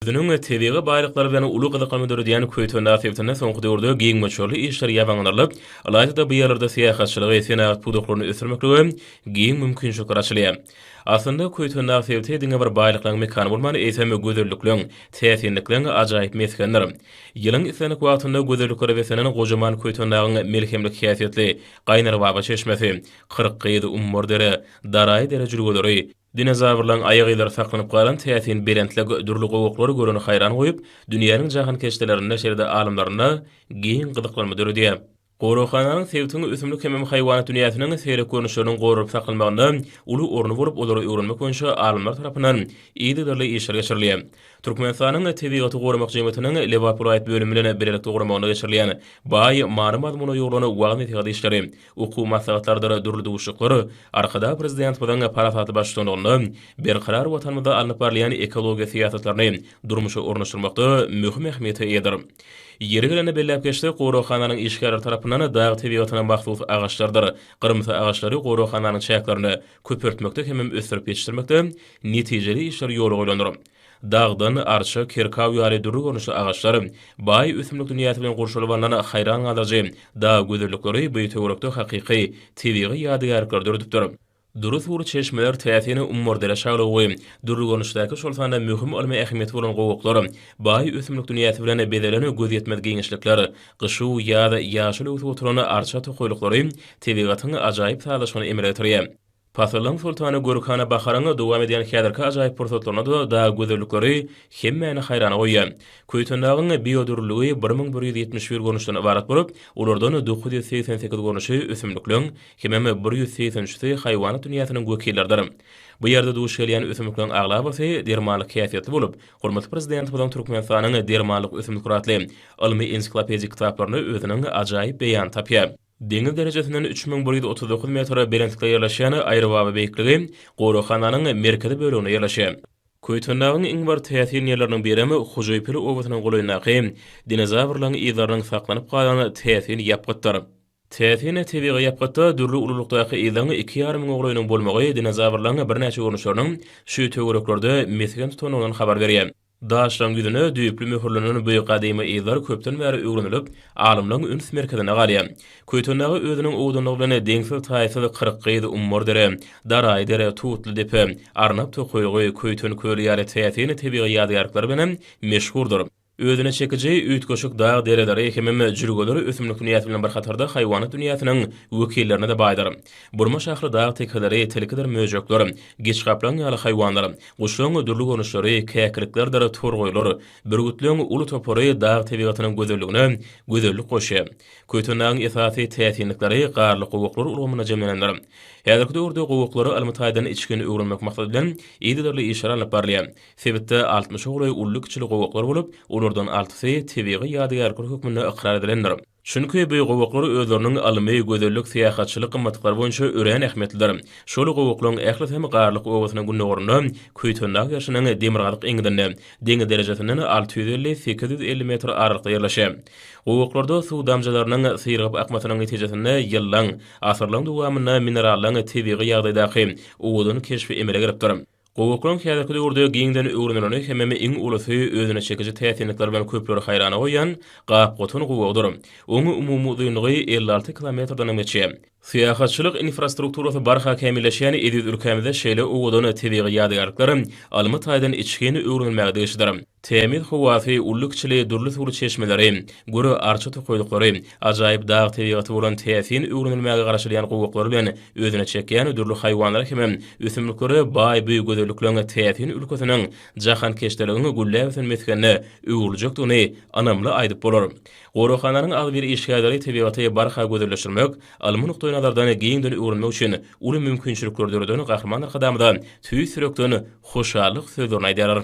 Özüniň tebigy baýlyklary bilen uly gyzyklanma döredýän Köýtendag sebitinde soňky döwürde giň möçberli işler ýabanyňdarylyp, ylaýta-da bu ýerlerde syýahatçylygy, senagat pudaklaryny ösdürmeklige giň mümkinçilikler açylýar. Aslynda, Köýtendag sebiti diňe bir baýlyklaryň mekany bolman, eýsem, gözellikleň, täsinlikleň ajaýyp mesgenidir. Ýylyň islendik wagtynda gözelliklere beslenen gojaman Köýtendagyň melhemlik häsiýetli Gaýnarbaba çeşmesi, Kyrkgyz, Ummurdere, Daraýy dere jülgeleri, Dinozawrlaryň aýak yzlary saklanyp galan täsin belentlik dürli gowaklar göreni haýran goýup, dünýäniň jahankeşdelerinde, şeýle-de alymlarynda giň gyzyklanma döredýär. Goraghananyň sebitiň ösümlik hemem haýwanat dünýäsiniň seýrek görnüşleriniň goralyp saklanmagynda uly orny bolup, olary öwrenmek boýunça alymlar tarapyndan yzygiderli işler geçirilýär. Türkmenistanyň Tebigaty goramak jemgyýetiniň Lebap welaýat bölümi bilen bilelikde guramagynda geçirilýän baý many-mazmuna ýugrulan wagyz-nesihat işleri Okuw maslahatlarydyr dürli duşuşyklar Arkadag Prezidentimiziň parasatly baştutanlygynda Berkarar Watanymyzda alnyp barylýan ekologiýa syýasatlaryny durmuşa ornaşdyrmakda möhüm ähmiýete eýedir. Ýeri gelende belläp geçsek, goraghananyň işgärleri tarapyndan dag tebigatyna mahsus agaçlarydyr gyrymsy agaçlary goraghananyň çäklerinde köpeltmekde hemem ösdürip ýetişdirmekde netijeli işler ýola goýlandyr. Dagdan, arça, kerkaw ýaly dürli görnüşli agaçlar, baý ösümlik dünýäsi bilen gurşalyp alnan haýran galdyryjy dag gözellikleri bu töwerekde hakyky tebigy ýadygärlikleri döredipdir. Dury suwly çeşmeler täsin umurdere şalygy, dürli görnüşdäki şol sanda möhüm ylmy ähmiýeti bolan gowaklar, baý ösümlik dünýäsi bilen bezelen gözýetmez giňişlikler, gyşu, ýaz ýaşyl öwsüp oturan arça tokaýlyklary tebigatyň ajaýyp sazlaşygyny emele getirýär. Pasyllaryň soltany Gülhana baharyň dowam edýän häzirki ajaýyp pursatlarynda-da dag gözellikleri hemmäni haýrana goýýar. Köýtendagyň biodürlüligi bir müň bir ýüz ýetmiş bir görnüşden ybarat bolup, olardan dokuz ýüz segsen sekiz görnüşi ösümlikleň, hemem bir ýüz segsen üçüsi haýwanat dünýäsiniň wekilleridir. Bu ýerde duş gelýän ösümlikleň aglabasy dermanlyk häsiýetli bolup, hormatly Prezidentimiziň Türkmenistanyň dermanlyk ösümlikler atly ylmy-ensiklopedik kitaplarynda özüniň ajaýyp beýanyny tapýar. Deňiz derejesinden üç müň bir ýüz otuz dokuz metr belentlikde ýerleşýän Aýrybaba beýikligi goraghananyň merkezi böleginde ýerleşýär. Köýtendagyň iň bir täsin ýerleriniň birem Hojaýpil obasynyň golaýyndaky dinozawrlaryň yzlarynyň saklanyp galan täsin ýapgytdyr. Täsin tebigy ýapgytda dürli ululykdaky yzyň iki ýarym müň oglaýynyň bolmagy dinozawrlaryň birnäçe görnüşleriniň şu töwereklerde mesgen tutandygyndan habar berýär. Daşlaryň ýüzüne düýpli möhürlenen bu gadymy yzlar köpden bäri öwrenilip, alymlaryň üns merkezinde galýar. Köýtendaga özüniň owdanlygy bilen deňsiz-taýsyz Kyrkgyz, Ummardere, Daraýdere, Tutlydepe, Arnap tokaýlygy, Köýten köli ýaly täsin tebigy ýadygärlikleri bilen hem meşhurdyr. Özüne çekiji üýtgeşik dag dereleri hemem jülgeler ösümlik dünýäsi bilen bir hatarda haýwanat dünýäsiniň wekillerine-de baýdyr. Burma şahly dag tekeleri, tilkidir möjekler, giçgaplaň ýaly haýwanlar, Guşlaryň dürli görnüşleri, käkiliklerdir torgaýlar, bürgütleriň uly topary dag tebigatynyň gözelligine gözellik goşýar. Köýtendagyň esasy täsinlikleri garly gowaklar ulgamynda jemlenendir. Häzirki döwürde gowaklara ylmy taýdan içgin öwrenmek maksady bilen yzygiderli işler alnyp barylýar. Sebitde altmyşa golaý uly-kiçili gowaklar bolup, olardan altysy tebigy ýadygärlikler hökmünde ykrar edilendir. Çünki bu gowaklar özleriniň ylmy, gözellik, syýahatçylyk gymmatlyklary boýunça örän ähmiýetlidir. Şol gowuklaryň ählisem Garlyk obasynyň gündogarynda, Köýtendag ýaşynyň demirgazyk eňňidinde, deňiz derejesinden alty ýüz elli, sekiz ýüz elli metr aralykda ýerleşýär. Gowaklarda suw damjalarynyň syrygyp akmasynyň netijesinde ýyllaň, asyrlaň dowamynda minerallaň tebigy ýagdaýdaky owadan keşbi emele gelipdir. Gowuklaň häzirki döwürde giňden öwrenileni hemem iň ulusy özüne çekiji täsinlikleri bilen köpleri haýrana goýýan gap-gotan gowugydyr. Oň umumy uzynlygy elli alty kilometrdenem geçýär. Syýahatçylyk infrastrukturasy barha kämilleşýän eziz ülkämizde şeýle owadan tebigy ýadygärlikler almy taýdan içgin öwrenilmäge degişlidir. Tämiz howasy, uly-kiçili dürli suwly çeşmeleri, güri arça tokaýlyklary, ajaýyp dag tebigaty bolan täsin öwrenilmäge garaşylýan gowaklar bilen özüne çekýän dürli haýwanlara hemem ösümliklere baý bu gözellikleň täsin ülkesiniň jahankeşdeligiň gülläp ösen mesgenine öwrüljekdigini ynamly aýdyp bolar. Goraghananyň agzybir işgärleri tebigaty barha gözelleşdirmek, ylmy nukdaýnazardan giňden öwrenmek üçin uly mümkinçilikleri döreden Gahryman Arkadagymyza tüýs ýürekden hoşallyk sözlerini aýdýarlar.